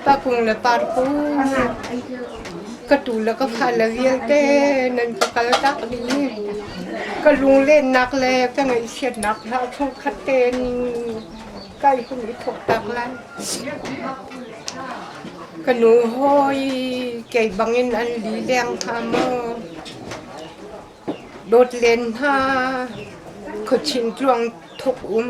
Pakung le parkung ka tu le ka fa le vialte nan ka kal tak ding. Ka lunglennak le ka ngaihchiatnak hla thongkhat tein ka i hun i thawk tak lai. Ka nu hawi kei bangin an li deng hna maw? Dawt len hna, khuachin tluang thawk um.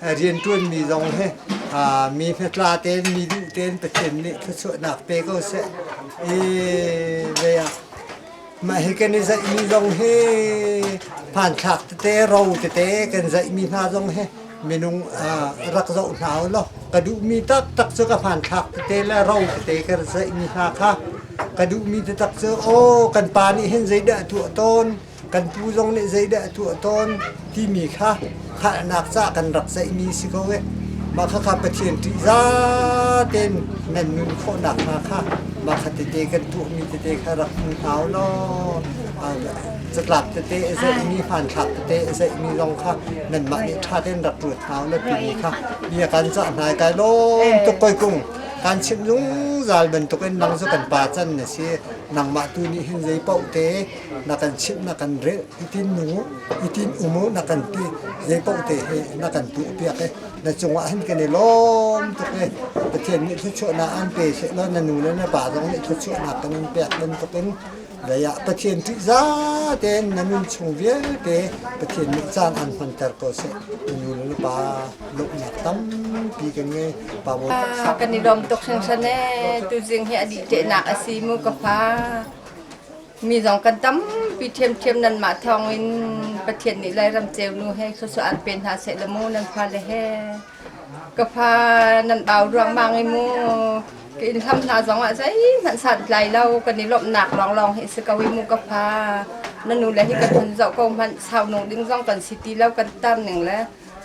rianṭuanmi zong hi mi hmetla tein mi duh tein Pathian nih thluachuahnak pe ko seh. I vei ah mah hi kan i zaihmi zong hi hmanthlak tete ro tete kan zaihmi hna zong hi minung rak zoh hna u law ka duhmi taktak cu ka hmanthlak tete le ro tete kan zaihmi hna kha ka duhmi taktak cu aw kan pa nih hin zeidah a tuah tawn kan pu zong nih zeidah a tuah tawn timi kha halnak ca kan rak ceihmi si ko e. Mah kha kha Pathian ṭih zaten nan nun khawhnak hna kha mah kha tete kan tuahmi tete kha rak hmu hau law catlap tete a zeihmi hmanthlak tete a zeihmi zong kha nanmah nih ṭha tein rak ruat hau na timi kha bia kan cah hna kai lawm tuk koi kung kan chim zungzal bantukin nang cu kan pa can na si nangmah tu nih hin zei paoh te na kan chimh na kan rel i tin nu i tin um u na kan ti zei paoh te he na kan tu piak e na cungah hin kan i lawm tuk e Pathian nih thluachuahnak an pe seh law na nu le na pa zong nih thluachuahnak kan an pek bantuk in lei ah Pathian ṭih za tein na nun chung vialte Pathian nih caan an hmanter ko seh nu le nu pa lawmhnak tampi kan ngei pa bo kan i lawm tuk hringhren e tu zing hi a dih tehnak a si mu ka pa Mi zong kan tampi ṭhiamṭhiam nanmah thawngin Pathian nih Lairam ceunu he khuasuah an pe hna seh law mu nan fale he. Ka fa nan bau ruangmang i mu ka inn hlam hna zongah zeihmanh santlai lo kan i lawmhnak lawnglawng hi si ko i mu ka fa na nu le hi kan hun zoh ko hmanh sau nu ding zong kan si ti lo kan tam ning le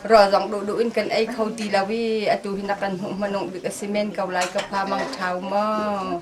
rawl zong duh duh in kan ei kho ti lo i atu hi na kan hmuh hmanung bik a si men ko lai ka fa mang ṭhau maw.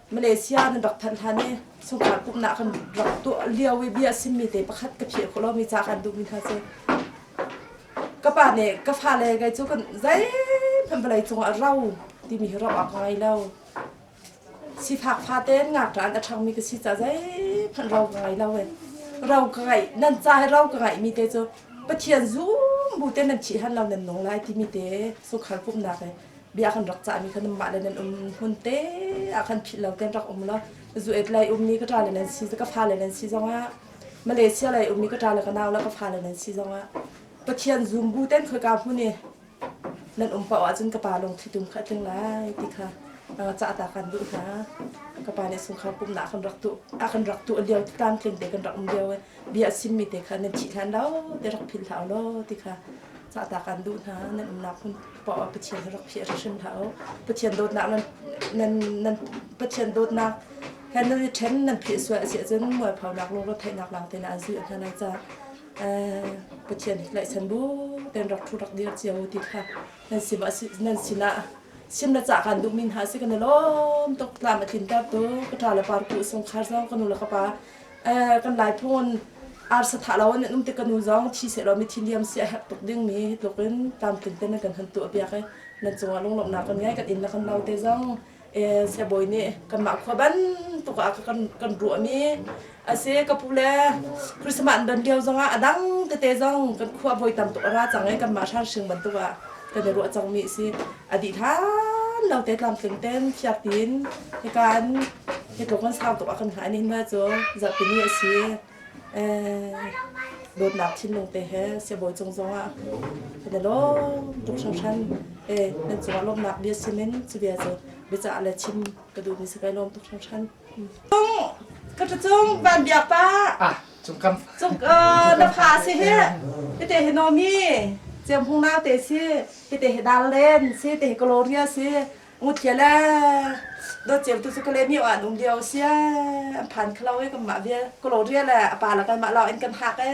Malaysia nan rak thanh hlan i sungkhar pumhnak kan rak tuah lio i bia a simmi te pakhat ka phiah khawh lomi ca kan duhmi kha a si. Ka pa nih ka fale gai cu kan zeihmanh vawlei cungah ro timi hi ro awk ka ngei lo. Sifak fate in ngakṭah in a ṭhangmi ka si caah zeihmanh ro ka ngei lo e. Ro ka ngeih, nan ca i ro ka ngeihmi te cu Pathian zum bu te nan thih hlan lo nan nung lai timi te sungkhar pumhnak he bia kan rak cah mi khan mah le nan um hmun te ah khan phih lo ten rak um lo zu et lai um ni ka tra le nan si ka fa le nan si zongah Malaysia lai um ni ka tra le ka nau la ka fa le nan si zongah Pathian zum bu ten khoi ka hmu ni nan um pa wa cun ka pa lung thi tum kha tling lai ti kha cah ta kan du hna ka pa nih sung khau kum na kan rak tu a kan rak tu liao ti tam tling te kan rak um liao bia sim mi te kha nan thi hlan lo te rak phil thau lo ti kha cah ta kan du hna nan um nak hun Pa Pathian hi rak phih hrim hlah u. Pathian dawtnak nan nan nan Pathian dawtnak he nan i ṭhen nan phih sual a si ahcun mualphonak lungrawt theihnak lang tein a zulh hna nan caah Pathian hi tlaihsan bu tein rak ṭhu rak dir cio u ti kha nan sinah nan sinah sin na cah kan duhmi hna si kan i lawm tuk tlam a tlintertu ka ṭa le par ku sungkhar zong ka nu le ka pa kan lai phun arsa tha lo in um tik kanu zong thi se law mithi liam si a herh tuk ding mi hi tluk in tlamtlin ten kan han tu a piak i nan cungah lunglawmh nak kan ngai kan in la kan no te zong sebawi nih kanmah khua bantuk ah kan kan ruah mi ase ka pu le christmas dan lio zong ah a dang tete zong kan khua voi tam tuk a ra cang i kanmah hrang sing bantuk ah kan i ruah cangmi a si. A dih hlan lo te tlamtling ten fiak tiin hika an hi tluk kan sang tuk ah kan hngah ning hna cu zarhpini a si. Eh, dawtnak thinlung te he siabawi cung zongah kan i lawm tuk hringhran. Eh, nan cungah lawmnak bia simin cu bia cu biacah le chim ka duh ni si kai lawm tuk hringhran. Ka ṭa cung van biak pa. Ah, cung kam. Cung na fa si hi. Ite he nomi. Cem hung nau te si. Ite he dal len si. Ite he gloria si. Ngut kia le. Do cem tu su kale mi wa nung dia sia. An phan khlo e kan ma vie. Gloria le apa la kan ma lo en kan hak e.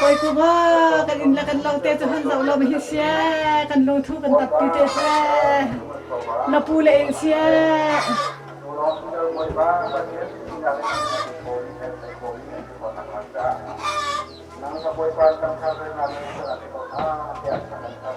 Koikunga kan inn le kan lo te cu hun zoh lo ma hi sia kan lo thu kan tat ti te se lapu le in sia nang ka boy pan kan thar na na na tiak kan thar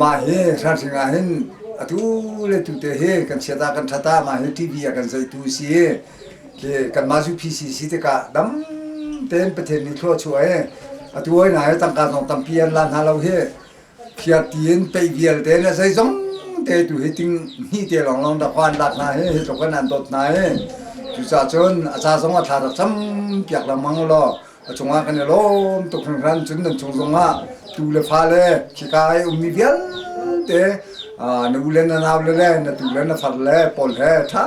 Mah hi hranghring ah hin atu le tu te hi kan chiat ah kan ṭhat ah mah hi TV ah kan zohtu a si i khi kanmah cu PCC tikah dam tein Pathian nih thluahchuah i atu hoi hna hi tangka zong tampi an lan hna lo hi phiarti in peih vialte in a zeizong te tu hi ting hnih te lawnglawng dahkhua an lak hna hi hi tluk in an dawt hna i cucahcun a ca zong a thla rak cam piak lengmang u law a cungah kan i lawm tuk hringhran cun nan chung zongah tu le fale khika i ummi vialte na u le na nau le le na tu le na far le pawl he ṭha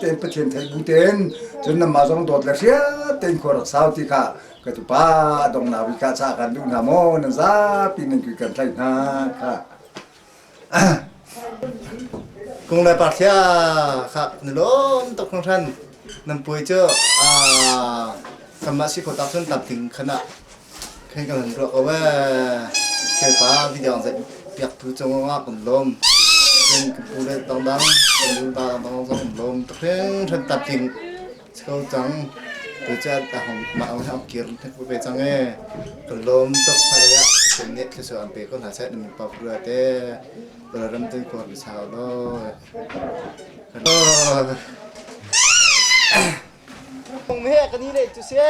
tein Pathian thei bu tein cun nanmah zong dawt le hriat tein khua rak sau ti kha ka tupa dong nau i ka ca kan duh hna maw nan zapi nan kui kan thlai hna kha Kung le par thlia khak na lawm tuk na hran nan puai cu kanmah si kho tak cun tam ding khan ah khen kan han ruah ko we Kherpa video zai piak tu cung ah kan lawm kan pu le tang dang kan nu da dang dang zong kan lawm tuk hring hran tam ding Cho cang. Tuchan ta hong mah hong hong kir na pu ve cang e. Ka lom tok pare ah kan ne thlu so an pe ko hla sai na pap ru te. Tura ram tin kor na sao lo. Hong me kan ni le tu se.